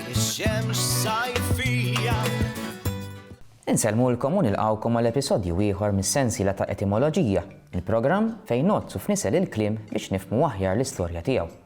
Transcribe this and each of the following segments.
Ix-xemx sajfija. Insellmulkom u nilqgħukom għal episodju ieħor mis-sensiela ta' Etimoloġija, il-programm fejn ngħoddsu f'nisel il-kliem biex nifhmu aħjar l-istorja tiegħu.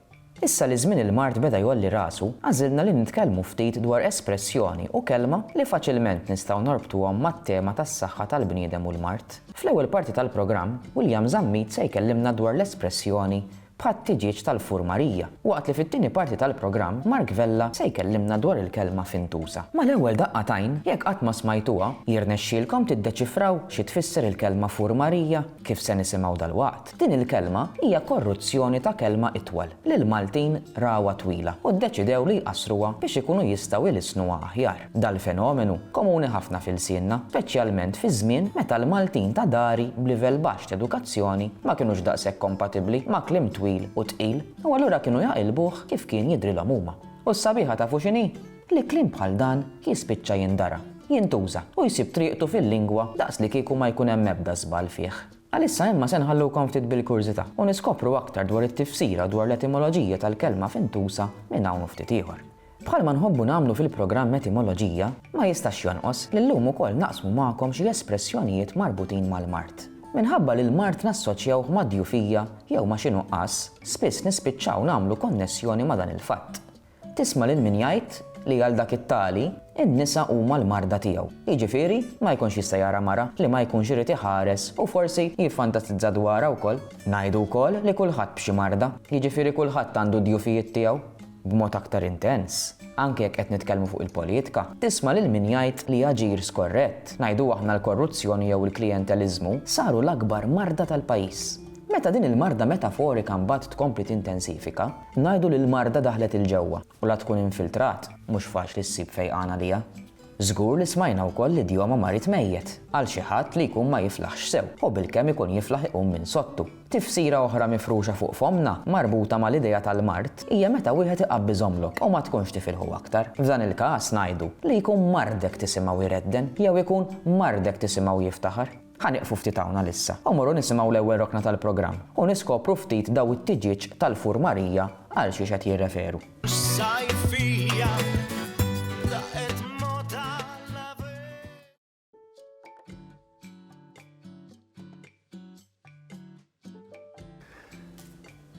Issa li żmien il-mard beda jgħolli rasu, għażilna li nitkellmu ftit dwar espressjoni u kelma li faċilment nistgħu norbtuhom mat-tema tas-saħħa tal-bniedem u l-mard. Fl-ewwel parti tal-programm, William Zammit se jkellimna dwar l-espressjoni bħat-tiġieġ tal-furmarija, waqt li fit-tieni parti tal-programm Mark Vella se jkellimna dwar il-kelma fintusa. Mal-ewwel daqqa t'għajn, jekk qatt ma smajtuha, jirnexxielkom tiddeċifraw xi tfisser il-kelma furmarija? Kif se nisimgħu dalwaqt, din il-kelma hija korruzzjoni ta' kelma itwal li l-Maltin rawha twila u ddeċidew li jqassruha biex ikunu jistgħu jlissnuha aħjar. Dal-fenomenu komuni ħafna f'ilsienna, speċjalment fi żmien meta l-Maltin ta' dari b'livell baxx t'edukazzjoni ma kinux daqshekk kompatibbli ma' kliem twil u tqil u allura kienu jaqilbuh kif kien jidhrilhom huma. U s-sabiħa tafu x'inhi? Li kliem bħal dan jispiċċa jindara, jintuża u jsib triqtu fil-lingwa daqslikieku ma jkun hemm ebda żball fih. Għalissa imma se nħallukom ftit bil-kurżità u niskopru aktar dwar it-tifsira u dwar l-etimoloġija tal-kelma fintusa minn hawn u ftit ieħor. Bħalma nħobbu nagħmlu fil-programm Etimoloġija, ma jistax jonqos li llum ukoll naqsmu magħkom xi espressjonijiet marbutin mal-mard. Minħabba li l-mard nassoċjawh mad-djufija jew ma' xi nuqqas, spiss nispiċċaw nagħmlu konnessjoni ma' dan il-fatt. Tisma' lil min jgħid li għal dak it-tali, in-nisa huma l-marda tiegħu. Jiġifieri, ma jkunx jista' jara mara li ma jkunx irid iħares u forsi jiffantasizza dwarha wkoll. Ngħidu wkoll li kulħadd b'xi marda, jiġifieri kulħadd għandu d-djufijiet tiegħu. b'mod aktar intens, anke jekk qed nitkellmu fuq il-poliitka, tisma' lil min jgħid li aġir skorrett, ngħidu aħna l-korruzzjoni jew il-klijenteliżmu, saru l-akbar marda tal-pajjiż. Meta din il-marda metaforika mbagħad tkompli tintensifika, ngħidu li l-marda daħlet 'il ġewwa u la tkun infiltrat, mhux faċli ssib fejqan għaliha. Żgur li smajna wkoll l-idjoma marid mejjet, għal xi ħadd li jkun ma jiflaħx sew, u bilkemm ikun jiflaħ iqum minn sodtu. Tifsira oħra mifruxa fuq fommna, marbuta mal-idea tal-mard, hija meta wieħed iqabbi żomlok u ma tkunx tifilħu aktar. F'dan il-każ ngħidu li jkun mardek tisimgħu jredden jew ikun mardek tisimgħu jiftaħar. Ħa nieqfu ftit hawn għalissa u mmorru nisimgħu l-ewwel rokna tal-programm u niskopru ftit daw it-tiġieġ tal-Fur Marija għal xiex qed jirreferu.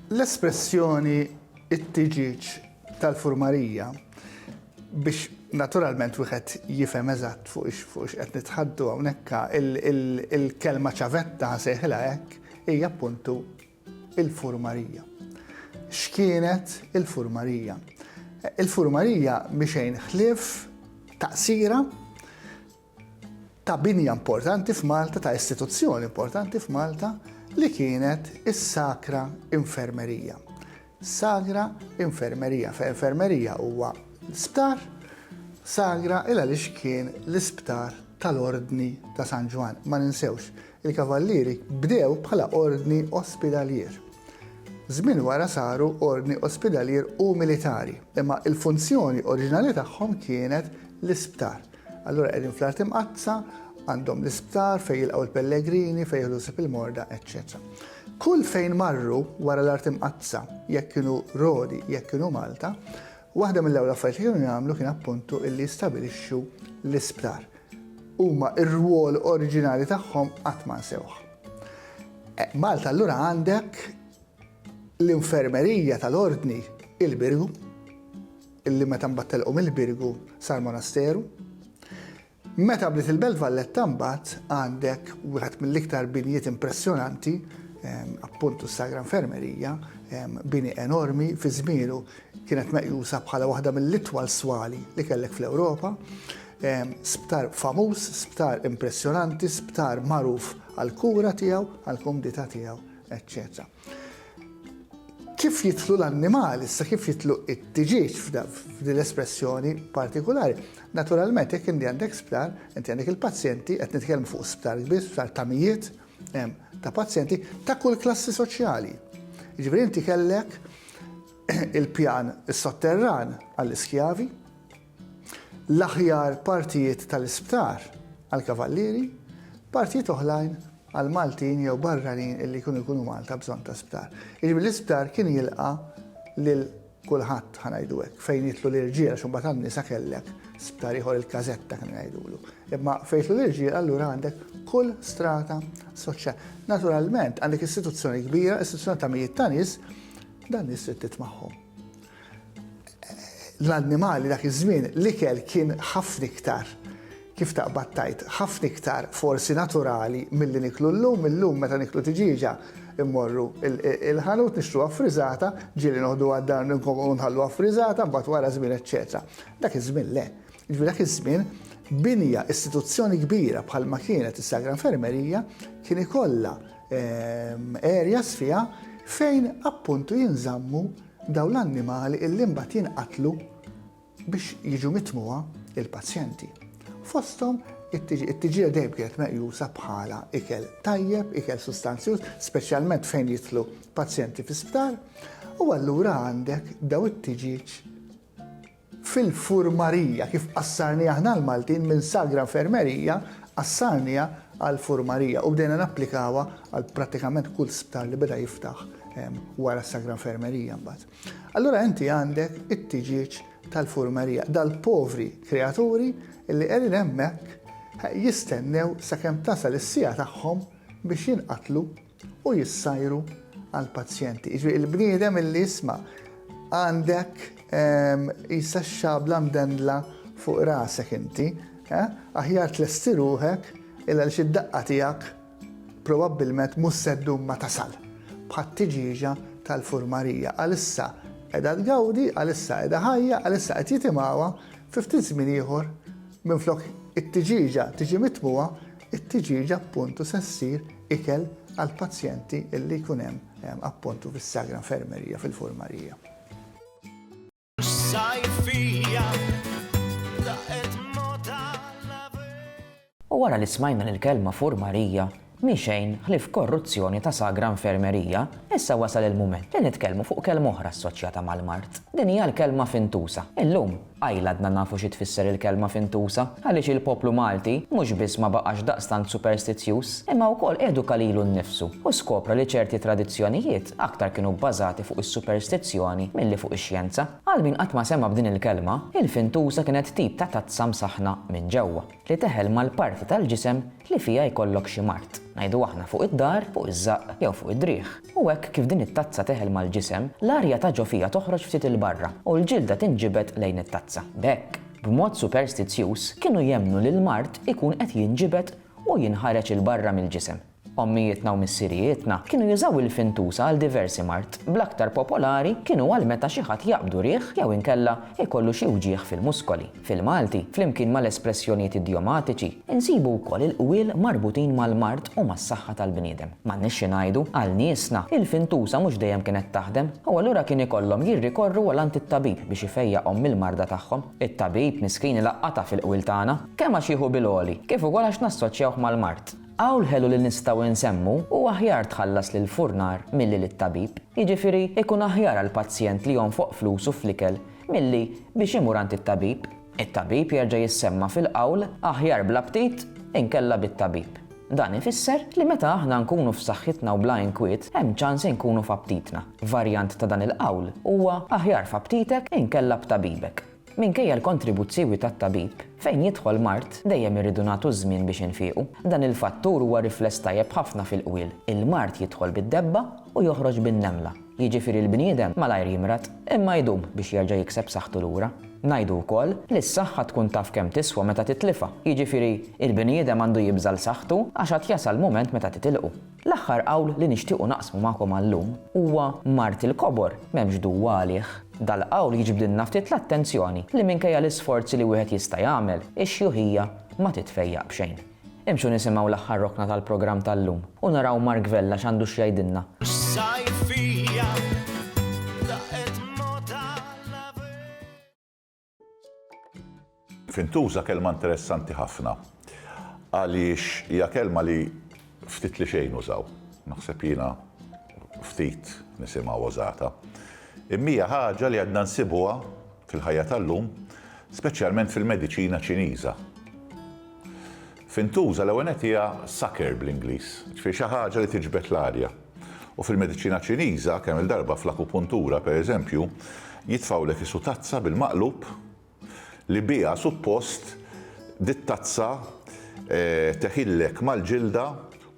L-espressjoni it-tiġieġ tal-furmarija biex naturalment wieħed jifhem eżatt fuq x'qed nitħaddu hawnhekk il-kelma ċavetta nsejħilha hekk hija appuntu il-furmarija. X'kienet il-furmarija? Il-furmarija mhi xejn ħlief taqsira ta' binja importanti f'Malta, ta' istituzzjoni importanti f'Malta li kienet is-Sakra Infermerija. Sagra Infermerija, fe infermerija huwa sptar, Sagra il għaliex kien l-isptar tal-Ordni ta' San Ġwan. Ma ninsewx, il-Kavallieri bdew bħala ordni ospidalier. Żmien wara saru ordni ospidalier u militari, imma il-funzjoni oriġinali tagħhom kienet l-isptar. Allura qegħdin fl-Art Imqaddsa, għandhom l-isptar fejn jilqgħu l-pellegrini, fejn jieħdu sib il-morda, eċċetera. Kull fejn marru wara l-Art Imqaddsa, jekk kienu Rodi, jekk kienu Malta, waħda mill-ewwel affarijiet li kienu jagħmlu kien appuntu illi jistabilixxu l-isptar. Huma r-rwol oriġinali tagħhom qatt ma nsewh. E, Malta allura għandek l-infermerija tal-ordni il-birgu, illi meta mbagħad telqu mill-Birgu sar monasteru. Meta bdiet il-Belt Valletta mbagħad għandek wieħed mill-iktar binjiet impressjonanti ehm, appuntu s-Sagra Infermerija, ehm, bini enormi fi żmielu kienet meqjusa bħala waħda mill-itwal swali li kellek fl-Ewropa. Ehm, sptar famuż, sptar impressjonanti, sptar magħruf għal kura tiegħu, għal kumdita tiegħu, eccetera. Kif jitlu l-annimali, sa kif jitlu it-tiġieġ f'din l-espressjoni partikolari. Naturalment, jekk inti għandek sptar, inti għandek il-pazjenti, qed nitkellmu fuq sptar kbir, sptar ta' mijiet, ta' pazjenti ta' kull klassi soċjali. Ġifieri inti kellek il-pjan is-sotterran għall-iskjavi, l-aħjar partijiet tal-isptar għall-kavallieri, partijiet oħlajn għal Maltin jew barranin illi jkunu jkunu Malta bżonn ta' sptar. Jiġifieri l-isptar kien jilqa' lil kulħadd ħa ngħidu hekk, fejn jidħlu l-irġiel għax imbagħad għan-nisa kellek sptar ieħor il-każetta kienu jgħidulu. Imma fejn jidħlu l-irġiel allura għandek kull strata soċjali. Naturalment għandek istituzzjoni kbira, istituzzjoni ta' mijiet ta' nies, dan nies trid titmagħhom. l-annimali dak iż-żmien l-ikel kien ħafna iktar, kif taqbad tgħid, ħafna iktar forsi naturali milli niklu llum, illum meta niklu tiġieġa mmorru l-ħanut nixtruha ffriżata, ġieli noħduha d-dar u nħalluha ffriżata, mbagħad wara żmien eċċetera. Dak iż-żmien le. Jiġifieri dak iż-żmien binja, istituzzjoni kbira bħalma kienet is-Sagra Infermerija kien ikollha areas fiha fejn appuntu jinżammu Dawn l-annimali illi mbagħad jinqatlu biex jiġu mitmugħa il-pazjenti. Fosthom it-tiġieħ dejjem kienet meqjusa bħala ikel tajjeb, ikel sustanzjuż, speċjalment fejn jidħlu pazjenti fi sptar, u allura għandek daw it-tiġieġ fil-furmarija, kif qassarniha aħna l-Maltin minn sagra infermerija qassarniha għal furmarija u bdejna napplikawha għal prattikament kull sptar li beda jiftaħ wara s-sagra infermerija mbagħad. Allura inti għandek it-tiġieġ tal-furmerija, dal-povri kreaturi li qegħdin hemmhekk jistennew sakemm tasal is-sija tagħhom biex jinqatlu u jissajru għal pazjenti. Iġri il-bniedem illi jisma għandek ehm, jissa xabla mdendla fuq rasek inti, eh? aħjar tlesti ruħek illa li xid-daqqa tijak probabbilment musseddu ma tasal bħat tiġiġa tal-furmarija. Għalissa edha tgawdi, għalissa edha ħajja, għalissa qed jitimawa, fiftit żmien ieħor minn flok it-tiġiġa tiġi mitmuwa, It-tiġieġa appuntu se ssir ikel għall-pazjenti li jkun hemm appuntu fis-Sagra Infermerija fil-Furmarija. U wara li smajna li l-kelma Furmarija mhi xejn ħlief korruzzjoni ta' Sagra Infermerija, issa wasal il-mument li nitkellmu fuq kelma oħra assoċjata mal-mard. Din hija l-kelma fintusa. Illum, Qajl għadna nafu xi tfisser il-kelma fintusa, għaliex il-poplu Malti mhux biss ma baqax daqstant superstizzjuż, imma wkoll eduka lilu nnifsu u skopra li ċerti tradizzjonijiet aktar kienu bbażati fuq is-superstizzjoni milli fuq ix-xjenza. Għal min qatt ma sema' b'din il-kelma, il-fintusa kienet tip ta' tazza msaħħna minn ġewwa. li teħel mal-parti tal-ġisem li fiha jkollok xi mard, ngħidu aħna fuq id-dahar, fuq iż-żaqq, jew fuq id-driegħ. U hekk kif din it-tazza teħel mal-ġisem, l-arja ta' ġo fiha toħroġ ftit 'il barra u l-ġilda tinġibed lejn it-tazza. B'hekk, b'mod superstizzjuż, kienu jemmnu li l-mard ikun qed jinġibed u jinħareġ 'il barra mill-ġisem. Ommijietna u missirijietna kienu jużaw il-fintusa għal diversi mard, bl-aktar popolari kienu għal meta xi ħadd jaqbdu riħ jew inkella jkollu xi wġigħ fil-muskoli. Fil-Malti, flimkien mal-espressjonijiet idiomatiċi, insibu wkoll il-qwiel marbutin mal-mard u mas-saħħa tal-bniedem. M'għandniex xi ngħidu, għal niesna, il-fintusa mhux dejjem kienet taħdem, u allura kien ikollhom jirrikorru għal għand it-tabib biex ifejjaqhom mill-marda tagħhom. It-tabib miskin ilaqqatha fil-qwiel tagħna, kemm għax jieħu bil-għoli, kif ukoll għax nassoċjawh mal-mard. Hawn l-ħelu li nistgħu insemmu hu aħjar tħallas lill-furnar milli lit-tabib, jiġifieri jkun aħjar għall-pazjent li jonfoq flusu fl-ikel milli biex imur għand it-tabib. It-tabib jerġa' jissemma fil-qawl aħjar bla ptit inkella bit-tabib. Dan ifisser li meta aħna nkunu f'saħħitna u bla inkwiet hemm ċans inkunu f'aptitna. Varjant ta' dan il-qawl huwa aħjar f'aptitek inkella b'tabibek. Minkejja l-kontribuzzjwi tat-tabib, fejn jidħol mard dejjem irridu nagħtu ż-żmien biex infiequ. Dan il-fattur huwa rifless tajjeb ħafna fil-qwiel, il-mard jidħol bid-debba u joħroġ bin-nemla. Jiġifieri l-bniedem malajr jimrad, imma jdum biex jerġa' jikseb saħħtu lura. Ngħidu wkoll li s-saħħa tkun taf kemm tiswa meta titlifha, jiġifieri l-bniedem għandu jibża' l-saħħtu għax għad jasal mument meta titilqu. L-aħħar qawl li nixtiequ naqsmu magħkom għal-lum huwa mard il-kobor m'hemmx duwa għalih. Dal-qawl jiġbdilna ftit l-attenzjoni li minkejja l-isforzi li wieħed jista' jagħmel, ix-xjuħija ma titfejjaq b'xejn. Imxu nisimgħu l-aħħar rokna tal-programm tal-lum u naraw Mark Vella x'għandu x'jgħidilna. X'sajfija laqgħet mgħodd għal-għabieb. Fintuża kelma interessanti ħafna għaliex hija kelma li ftit li xejn użaw. Naħseb jiena ftit nisimgħu użata. Immija ħaġa li għadna nsibuha fil-ħajja tal-lum, speċjalment fil-mediċina Ċiniża. Fintuża l-ewwel hija sucker bl-Ingliż, ġifieri xi ħaġa li tiġbed l-arja. U fil-mediċina Ċiniża, kemm-il darba fl-akupuntura, per eżempju, jitfgħulek isu tazza bil-maqlub li biha suppost dit-tazza teħillek mal-ġilda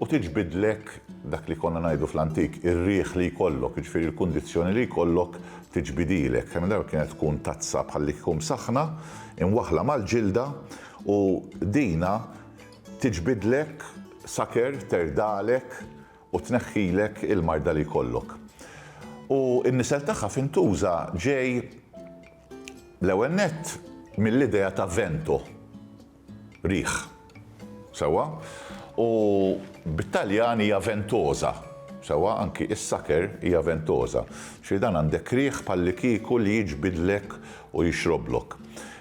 u tiġbidlek dak li konna ngħidu fl-antik, ir-riħ li jkollok, jiġifieri l-kundizzjoni li jkollok tiġbidilek. Kemm-il darba kienet tkun tazza bħal li kieku msaħħna, imwaħħla mal-ġilda u dina tiġbidlek saker terdalek, u tneħħilek il-marda li jkollok. U n-nisel tagħha f'intuża ġej l-ewwel nett mill-idea ta' vento, riħ. Sewwa? U bit-Taljan hija ventosa. Sewwa, anki is-saker hija ventosa. Xi dan għandek riħ bħallikieku li jiġbidlek u jixroblok.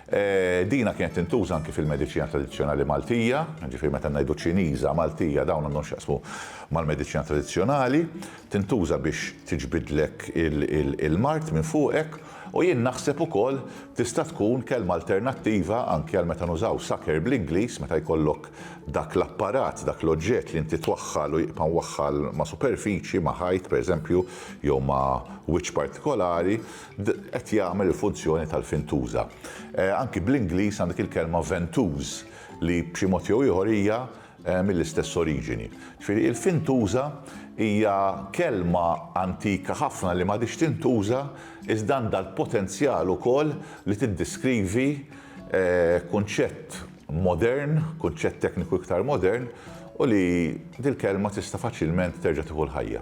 Dina kienet tintuża anki fil-mediċina tradizzjonali Maltija, ġifieri meta ngħidu Ċiniża, Maltija, dawn għandhom x'jaqsmu mal-mediċina tradizzjonali, tintuża biex tiġbidlek il-mard minn fuqek u jien naħseb ukoll tista' tkun kelma alternattiva anki għal meta nużaw sucker bl-Ingliż meta jkollok dak l-apparat, dak l-oġġett li inti twaħħal u jibqa' mwaħħal ma' superfiċi, ma' ħajt pereżempju jew ma' wiċċ partikolari, D Qed jagħmel il-funzjoni tal-fintuża. Anki bl-Ingliż għandek il-kelma ventouse li b'xi mod jew ieħor hija mill-istess oriġini. Ġifieri il-fintuża hija kelma antika ħafna li m'għadhiex tintuża iżda għandha l-potenzjal ukoll li tiddeskrivi kunċett modern, kunċett tekniku iktar modern u li dil-kelma tista' faċilment terġa' tieħu l-ħajja.